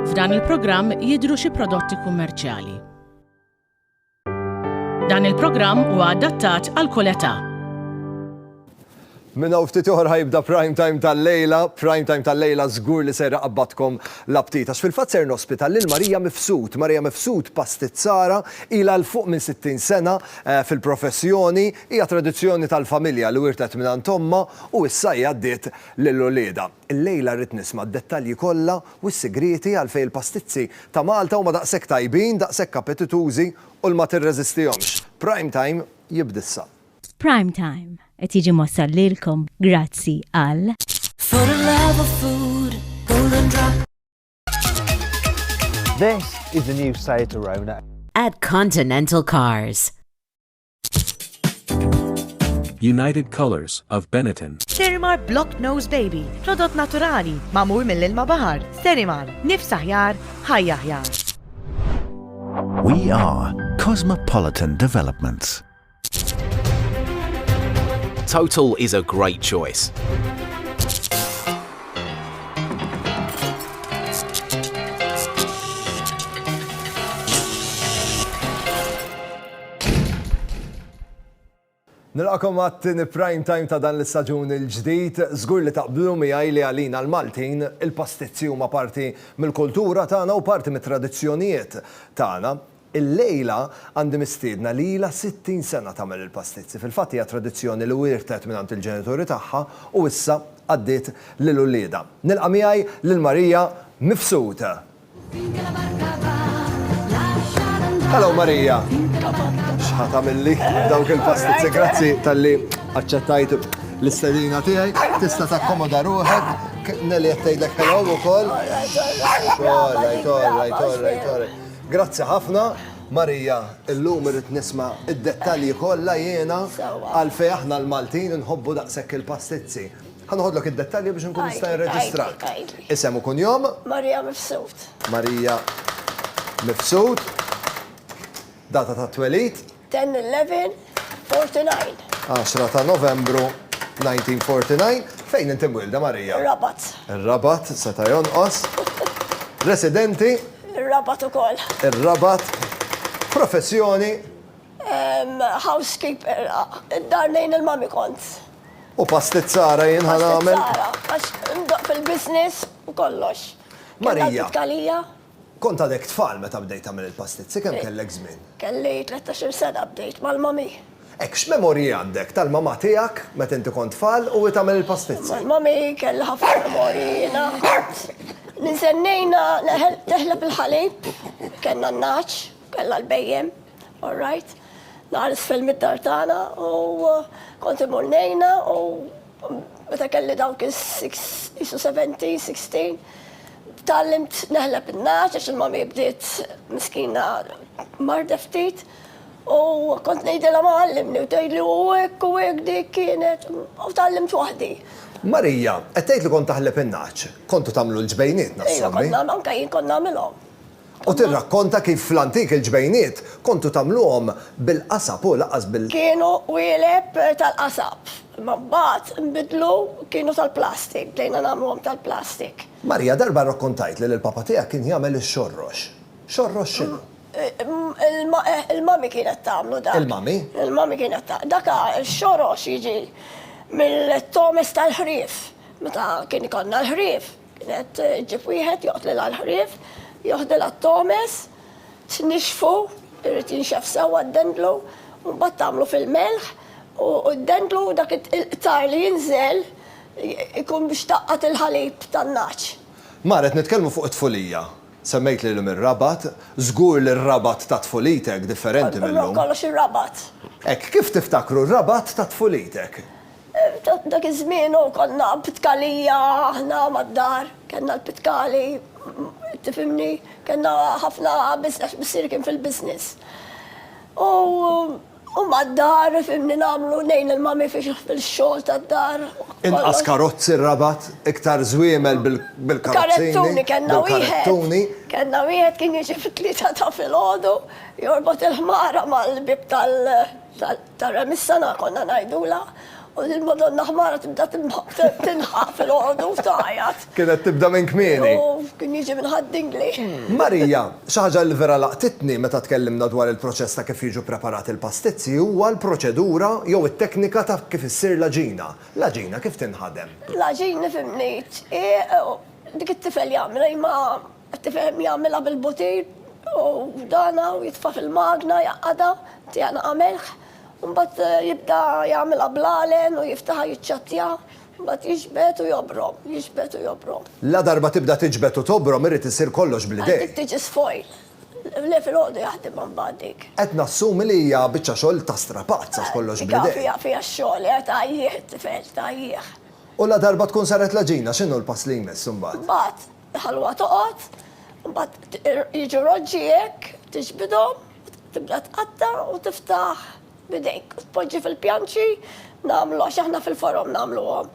F'dan il-programm jidhru xi prodotti kummerċjali. Dan il-programm huwa adattat għal kull età. Minn hawn ftit ieħor ħa jibda Prime Time tal-lejla. Prime Time tal-lejla żgur li ser iqabbadkom l-aptit għax fil-fatt ser nospita lil Marija Mifsud. Marija Mifsud pastizzara, ilha 'l fuq minn 60 sena fil-professjoni, hija tradizzjoni tal-familja li wirtet mingħand ommha u issa hi għaddiet lil uliedha. Illejla rrid nisma' d-dettalji kollha u s-sigrieti għalfejn il-pastizzi ta' Malta huma daqshekk tajbin, daqshekk appetitużi u l ma tirreżistihomx. Prime Time jibda issa. F'Prime Time qed jiġi mwassal lilkom grazzi għal For the love of food, golden drop. This is the new Seat Arona. At Continental Cars. United Colors of Benetton. Sterimar Block Nose Baby, prodott naturali, mamur mill-ilma bahar. Sterimar, nifs aħjar, ħajja aħjar. We are Cosmopolitan Developments. Total is a great choice. Nilqakom għat-tini prime time ta' dan l-istaġun il-ġdid, żgur li taqblu miegħi li għalina l-Maltin il-pastizzi huma parti mill-kultura tagħna u parti mit-tradizzjonijiet tagħna. Illejla għandi mistiedna li ilha 60 sena tagħmel il-pastizzi. Fil-fatt hija tradizzjoni li wierthet mingħand il-ġenituri tagħha u issa għaddiet lil uliedha. Nilqa' miegħi lil Maria Mifsud. Hello Maria! X'ħa tagħmilli dawk il-pastizzi. Grazzi talli aċċettajt l-istedina tiegħi. Tista' takkomoda ruħek. Nellie qed tgħidlek hello ukoll. All right, all right, all right, all right. Grazzi ħafna Marija illum irrid nisma' id-dettalji kollha jiena għalfejn aħna l-Maltin inħobbu daqshekk il-pastizzi. Ħa noħodlok id-dettalji biex inkun nista' nirreġistrak. Isem u kunjom? Marija Mifsud. Marija Mifsud. Data tat-twelid? 10/11/49. Għaxra ta' Novembru 1949. Fejn inti mwielda, Marija? Ir-Rabat. Ir-Rabat, seta' jonqos. Residenti? Ir-Rabat ukoll. Ir-Rabat. Professjoni? Housekeeper. Id-dar nejn il-mami kont. U pastizzara jien ħa nagħmel. Pastizzara, għax ndoq fil-business u kollox. Marija. Kien tkalija? Kont għadek tfal meta bdejt tagħmel il-pastizzi, kemm kellek żmien? Kelli tlettax-il sena bdejt mal-mommy. Hekk, x'memorji għandek tal-mamà tiegħek meta inti kont tfal u hi tagħmel il-pastizzi? Mal-mommy kelli ħafna memorji jiena. Ninsennejna teħleb il-ħalib, kellna n-nagħaġ, kellha l-bhejjem, all right. Nagħar isfel mid-dar tagħna u kont imur ngħinha u Meta kelli dawk is-isu 17, 16, tallimt neħleb in-naċ għax il-mami bdiet miskina marda ftit. U kont ngħidilha ma għallimni u tgħidli u hekk u hekk dik kienet u tallimt waħdi. Marija, qed tgħid li kont taħleb in-naċ? Kontu tagħmlu l-ġbejniet, nassumi? Ejja, konna, anke jien kont nagħmilhom. U tirrakkonta kif fl-antik il-ġbejniet kontu tagħmluhom bil-qasab u lanqas bil. Kienu qwieleb tal-qasab, imma mbagħad inbidlu kienu tal-plastik, bdejna nagħmluhom tal-plastik. Marija, darba rrakkontajtli li l-papa tiegħek kien jagħmel ix-xorrox. Xorrox x'inhu? Il-mummy kienet tagħmlu dak. Il-mummy? Il-mummy kienet tagħmlu. Dak ix-xorrox jiġi mill-tomes tal-ħrief. Meta kien ikollna l-ħrief, Kienet ġib wieħed joqtlel għall-ħrief, joħdel għat-tomes, tnixxfu, irid jinxef sewwa d-dendlu, u mbagħad tagħmlu fil-melħ u d-dendlu dak il-qtar li jinżel ikun biex tgħaqqad il-ħalib tan-nagħaġ. Mar, qed nitkellmu fuq it-tfulija. Semmejt li llum ir-Rabat, żgur li r-Rabat ta' tfulitek differenti mil-lum. Kollox ir-Rabat. Hekk, kif tiftakru r-Rabat ta' tfulitek? Dak iż-żmien u konna pitkalija aħna mad-dar, kellna l-pitkali, tifhimni, kellna ħafna biss għax missieri kien fil-business. U mad-dar, fimni nagħmlu ngħin il-mami fil-xogħol tad-dar. Inqas karozzi r-Rabat, iktar żwiemel bil-karozzi. Karettuni kellna wieħed. Kellna wieħed kien jiġi fit-tlieta ta' filgħodu, jorbot il-ħmara mal-bieb tal-. Tara mis-sala konna ngħidulha u din Madonna ħmara tibda tinħaq filgħodu u tagħjat. Kienet tibda minn kmieni. U kien jiġi minn Ħad-Dingli. Marija, Xi ħaġa li vera laqtitni meta tkellimna dwar il-proċess ta' kif jiġu ppreparati l-pastizzi huwa l-proċedura jew it-teknika ta' kif issir l-għaġina. L-għaġina kif tinħadem? L-għaġin nifhimni dik it-tifel jagħmilha imma Tifhem jagħmilha bil-butir u dana u jitfa' fil-magna jgħaqqadha, tieqa naqa' melħ, u mbagħad jibda jagħmilha bl-għalen u jiftaħha jiċċattjaha, mbagħad jiġbed u jobrom, jiġbed u jobrom. Ladarba tibda tiġbed u tobrom irid isir kollox bl-idejn. Għad dik tiġi sfoil. Le filgħodu jaħdimha mbagħad dik. Qed nassumi li hija biċċa xogħol ta' strapazz għax kollox bl-idejn. Dik fiha fiha x-xogħol, eh, tgħajjih it-tifel, tgħajjih. U ladarba tkun saret l-għaġina x'inhu l-pass li jmiss imbagħad? Mbagħad Ħalluha toqgħod, imbagħad jiġu roġġi hekk, tiġbidhom, tibda tqatta' u tiftaħ b'idejk. Tpoġġi fil-pjanċi, nagħmlu għax aħna fil-forom nagħmluhom.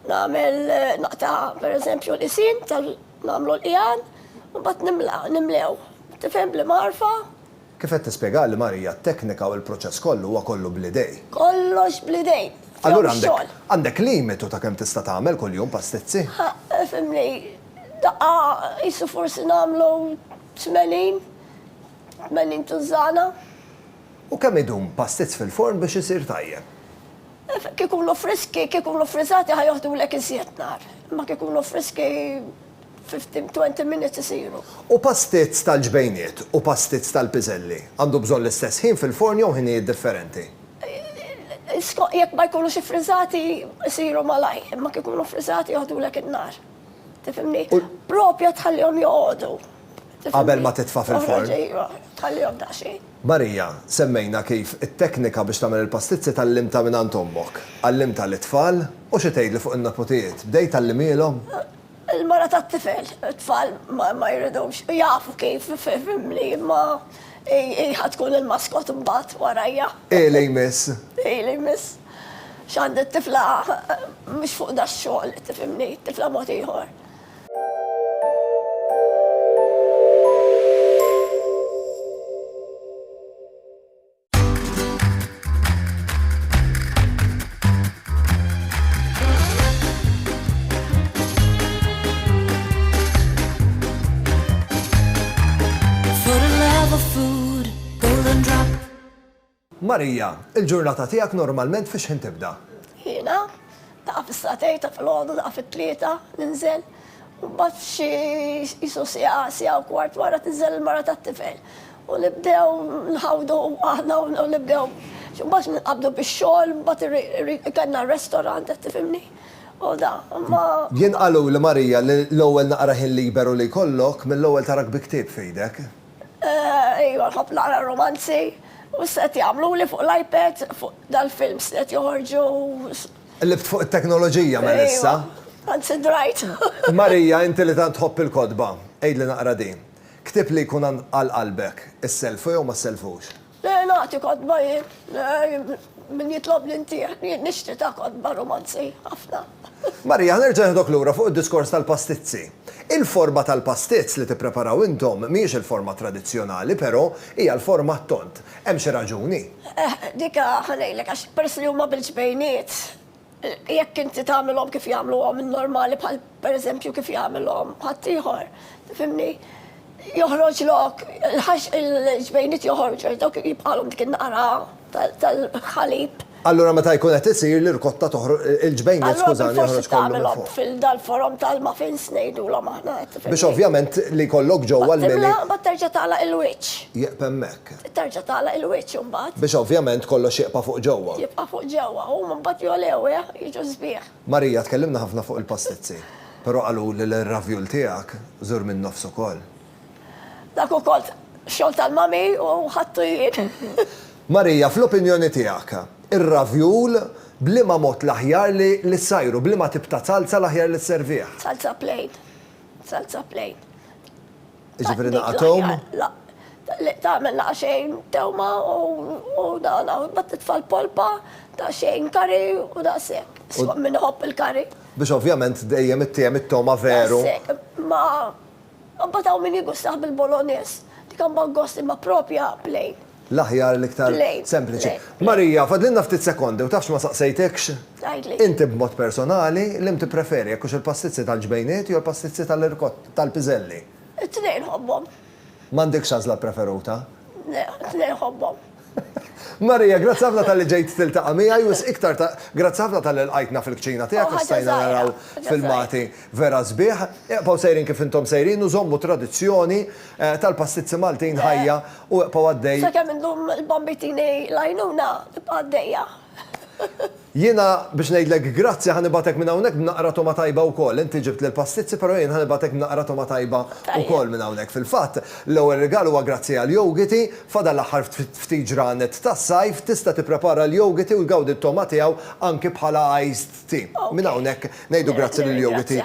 Nagħmel naqta' pereżempju l-isin tal nagħmlu l-qiegħan, imbagħad nimla, nimlew. Tifhem bl-marfa? Kif qed tispjegali Marija t-teknika u l-proċess kollu huwa kollu bl-idej. Kollox bl-idej. Allura għandek għandek limitu ta' kemm tista' tagħmel kuljum pastizzi? Ħa ifhimni, daqqa qisu forsi nagħmlu tmenin, tmenin tużżana. U kemm idum pastizz fil-forn biex isir tajjeb? Kif ikunu friski, kif ikunu ffriżati ħa joħdulek iżjed nhar. Imma kif ikunu friski. Fifteen, twenty minutes isiru. U pastizz tal-ġbejniet u pastizz tal-piżelli? Għandu bżonn l-istess ħin fil-forn jew ħinijiet differenti? Skont jekk ma jkunux iffriżati isiru malajr, imma kif ikunu ffriżati joħdulek in-nar. Tifhimni? Proprja tħallihom joqogħdu. Qabel ma titfa' fil-forn. Iva, tħallihom daqsxejn. Marija, semmejna kif it-teknika biex tagħmel il-pastizzi tgħallimtha mingħand ommok. Għallimtha lit-tfal? U xi tgħidli fuq in-neputijiet, bdejt tgħallimielhom? Il-mara tat-tifel, it-tfal ma jridux, jafu kif, fehimni, imma hi ħa tkun il-maskot imbagħad warajja. Hi li jmiss. Hi li jmiss. X'għandi t-tifla mhux fuq dax-xogħol, tifhimni, t-tifla mod ieħor. Marija, il-ġurnata tiegħek normalment fiex ħin tibda? Jiena, ta' fis-satej ta' fil-ħodu ta' fit-tlieta ninżel. U bat xi jisu sija sija u kwart wara tinżel il-mara tat-tifel. U nibdew nħawdu aħna u nibdew mbagħad nqabdu bix-xogħol, mbagħad kellna r-restaurant qed tifhimni. U da, imma. Jien qaluli Marija li l-ewwel naqra ħin liberu li jkollok, mill-ewwel tarak bi ktieb f'idek. Ejwa, nħobb naqra r-rumanzi. U x'qed jagħmluli fuq l-iPad, fuq dal-films li qed joħorġu. Qlibt fuq it-teknoloġija mela issa. Ejwa, anzi drajt. Marija, inti li tant tħobb il-kotba, għidli naqra din. Ktieb li jkun għal qalbek, issellfu jew ma ssellfux? Le, nagħti kotba jien. Min jitlobni ntih. Jien nixtri ta' kotba rumanzi, ħafna. Marija, ħa nerġa' nieħdok lura fuq id-diskors tal-pastizzi. Il-forma tal-pastizz li tippreparaw intom mhijiex il-forma tradizzjonali, però hija l-forma ttond. Hemm xi raġuni? Eh, dik ħa ngħidlek għax peress li huma bil-ġbejniet, Jekk inti tagħmilhom kif jagħmluhom in-normali bħal pereżempju kif jagħmilhom ħaddieħor, tifhimni? Joħroġ lok, il-ġbejniet joħorġu għax dawk jibqalhom dik in-naqra tal-ħalib. Allura meta jkun qed isir l-irkotta toħroġ, il-ġbejniet skużani joħroġ kollu minn fuq. Fil-dal-forom tal-muffins ngħidulhom aħna. Biex ovvjament li jkollok ġewwa l-mili. Imbagħad terġa' tagħlaq il-wiċċ. Jieqaf hemmhekk. Terġa' tagħlaq il-wiċċ imbagħad. Biex ovvjament kollox jibqa' fuq ġewwa. Jibqa' fuq ġewwa. Huma mbagħad jogħlew, eħ, jiġu sbieħ. Marija, tkellimna ħafna fuq il-pastizzi. Però qaluli li r-ravjul tiegħek żur min-nofs ukoll. Dak ukoll xogħol tal-mami u ħadtu jien. Marija, fl-opinjoni tiegħek, ir-ravjul b'liema mod l-aħjar li li ssajru, b'liema tip ta' zalza l-aħjar li sservih? Zalza plain. Zalza plain. Jiġifieri naqathom? Li tagħmel naqa' xejn tewma u dan bat titfal polpa ta' xejn kari u daqshekk. Skont min iħobb il-kari. Biex ovvjament dejjem ittiehem it-tewma veru. Daqshekk. Ma mbagħad hawn min jigustah bil-bolognese. Dik imbagħad gost imma proprja plain. l-aħjar, l-iktar sempliċi. Marija, fadlilna ftit sekondi u tafx ma saqsejtekx inti b'mod personali liem tippreferi, jekk hux il-pastizzi tal-ġbejniet jew il-pastizzi tal-irkotta, tal-piżelli? It-tnejn nħobbhom. M'għandekx għażla ppreferuta? Le, it-tnejn nħobbhom. Marija, grazzi ħafna talli ġejt tiltaqa' miegħi u wisq iktar ta' grazzi ħafna talli lqajtna fil-kċina tiegħek u stajna naraw filmati vera sbieħ. Ibqgħu sejrin kif intom sejrin u żommu t-tradizzjoni tal-pastizzi Maltin ħajja. U eqpa' għaddej. Sakemm indum il-bambitini l-għajnuna tibqa' għaddejja. Jiena biex ngħidlek grazzi ħa nibgħatek minn hawnhekk b'naqra togħma tajba wkoll. Inti ġibt l-pastizzi però jien ħa nibgħatek b'naqra togħma tajba wkoll minn hawnhekk. Fil-fatt, l-ewwel rigal huwa grazzi għall-yogiti, fadal l-aħħar ftit ġranet tas-sajf, tista' tipprepara l-yogiti u tgawdi t-togħma tiegħu anki bħala iced Grazzi. Minn hawnhekk ngħidu grazzi lil Jowiti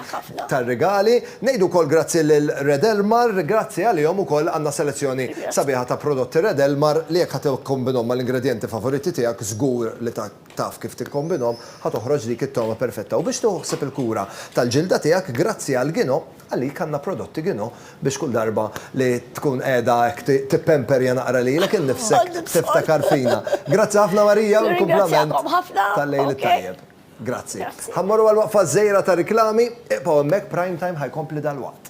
tar-rigali. Ngħidu wkoll grazzi lil Red Elmar. Grazzi għalihom ukoll għandna selezzjoni sabiħa ta' prodotti Red Elmar li jekk ħa tikkombinhom mal-ingredjenti favoriti tiegħek żgur li taf kif tikkombinhom ħa toħroġ dik it-togħma perfetta. U biex tieħu ħsieb il-kura tal-ġilda tiegħek grazzi għal Gino, Għalik għandna prodotti Gino biex kull darba li tkun qiegħda hekk tippemperja naqra lilek innifsek tiftakar fina. Grazzi ħafna Marija u kumplament tal-Lejl it-Tajjeb. Grazzi. Ħa mmorru għal waqfa żgħira ta' riklami, iqbgħu hemmhekk Prime Time ħa jkompli dalwaqt.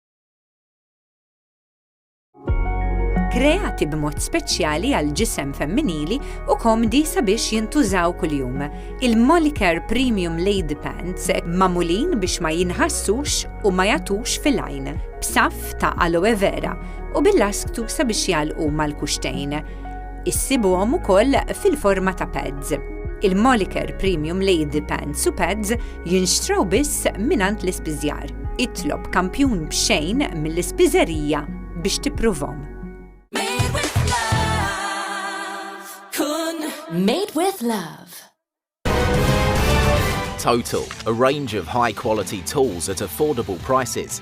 kreati b'mod speċjali għal ġisem femminili u komdi sabiex jintużaw kuljum. Il-Molicare Premium Lady Pants mamulin biex ma jinħassux u ma jatux fil-għajn, b'saf ta' aloe vera u bil-lasktu sabiex jalqu mal-kuxtejn. Issibuhom ukoll fil-forma ta' pads. Il-Molicare Premium Lady Pants u Pads Jinxtraw biss mingħand l-ispiżjar. Itlob kampjun b'xejn mill-ispiżerija biex tippruvhom. Made with love. Kun made with love. Total, a range of high quality tools at affordable prices.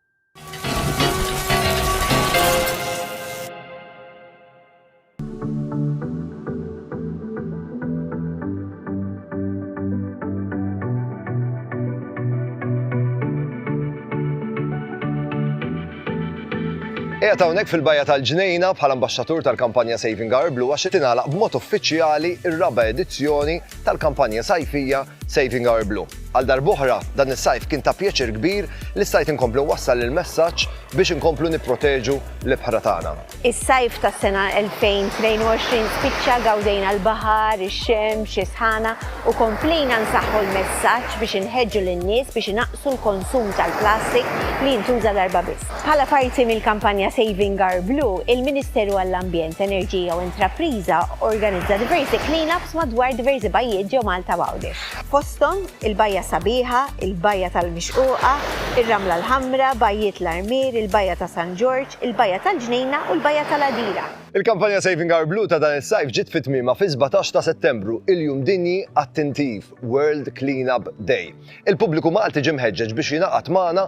Qiegħed hawnhekk fil-Bajja tal-Ġnejna bħala Ambaxxatur tal-kampanja Saving Our Blue għax qed tingħalaq b'mod uffiċjali r-raba' edizzjoni tal-kampanja sajfija Saving Our Blue. Għal darb'oħra, dan is-sajf kien ta' pjaċir kbir li stajt inkompli nwassal il-messaġġ biex inkomplu nipproteġu l-ibħra tagħna. Is-sajf tas-sena 2022 spiċċa, gawdejna l-baħar, ix-xemx, is-sħana u komplejna nsaħħu l-messaġġ biex inħeġġu lin-nies biex inaqqsu l-konsum tal-plastik li jintuża darba biss. Bħala parti mill-kampanja Saving Our Blue, il-Ministeru għall-Ambjent, Enerġija u Intrapriża organizza diversi clean-ups madwar diversi bajjiet ġo Malta b'Għawdex. Fosthom, il-Bajja Sabiħa, il-Bajja tal-Mixquqa, ir-Ramla l-Ħamra, Bajjiet l-Armier, il-Bajja ta' San Ġorġ, il-Bajja tal-Ġnejna u l-Bajja tal-Għadira. Il-kampanja Saving Our Blue ta' dan is-sajf ġiet fi tmiemha fis-sbatax ta' Settembru, il-Jum Dinji għat-Tintif, World Clean-Up Day. Il-pubbliku Malti ġie mħeġġeġ biex jingħaqad magħna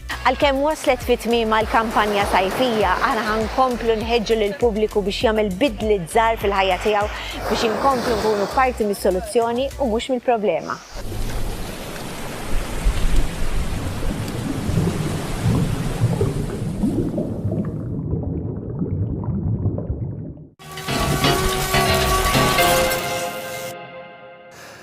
Għalkemm waslet fi tmiemha l-kampanja sajfija, aħna ħa nkomplu nħeġġu lill-pubbliku biex jagħmel bidliet żgħar fil-ħajja tiegħu biex inkomplu nkunu parti mis-soluzzjoni u mhux mill-problema.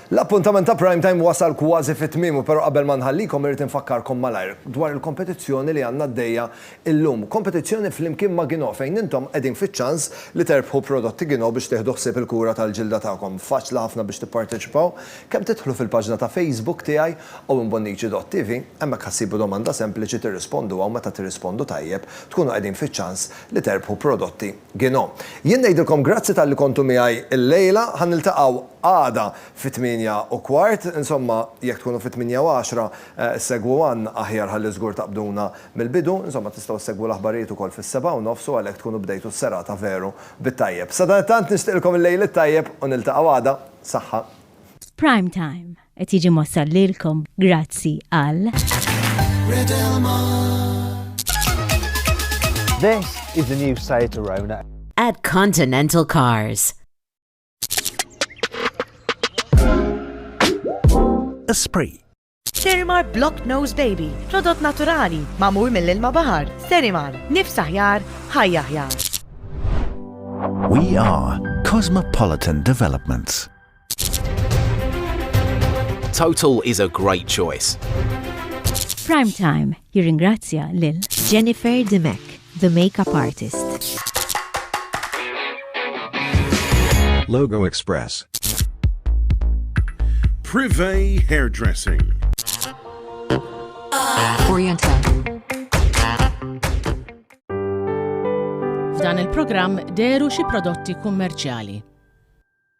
L-appuntament ta' Prime Time wasal kważi fi tmiemu però qabel ma nħallikom irrid infakkarkom malajr dwar il-kompetizzjoni li għandna għaddejja illum. Kompetizzjoni flimkien ma' Ginò fejn intom qegħdin fiċ-ċans li terbħu prodotti Ginò biex tieħdu ħsieb il-kura tal-ġilda tagħkom. Faċli ħafna biex tipparteċipaw. Kemm tidħlu fil-paġna ta' Facebook tiegħi, owenbonnici.tv, hemmhekk ħa ssibu domanda sempliċi tirrisponduha u meta tirrispondu tajjeb tkunu qegħdin fiċ-ċans li terbħu prodotti. Gino. Jien ngħidilkom grazzi talli kontu miegħi llejla. Ħa niltaqgħu għada fit-tmienja u kwart. Insomma, jekk tkunu fit-tmienja u għaxra, segwu Ann aħjar ħalli żgur taqbduna mill-bidu. Insomma, tistgħu ssegwu l-aħbarijiet ukoll fis-sebgħa u nofs u għalhekk tkunu bdejtu s-serata veru bit-tajjeb. Sadanittant nixtieqilkom il-lejl it-tajjeb u niltaqgħu għada. Saħħa. F'Prime Time. Qed jiġi mossal lilkom grazzi għal. This is the new Seat Arona. At Continental Cars. Esprit. Serimar Block Nose Baby, prodott naturali, mamur mill-ilma bahar. Serimar, nifs aħjar, ħajja aħjar. We are Cosmopolitan Developments. Total is a great choice. Prime Time jirringrazzja lil Jennifer Dimek, the makeup artist. Logo Express. Privé Hairdressing. Oriental. F'dan il-programm deru xi prodotti kummerċjali.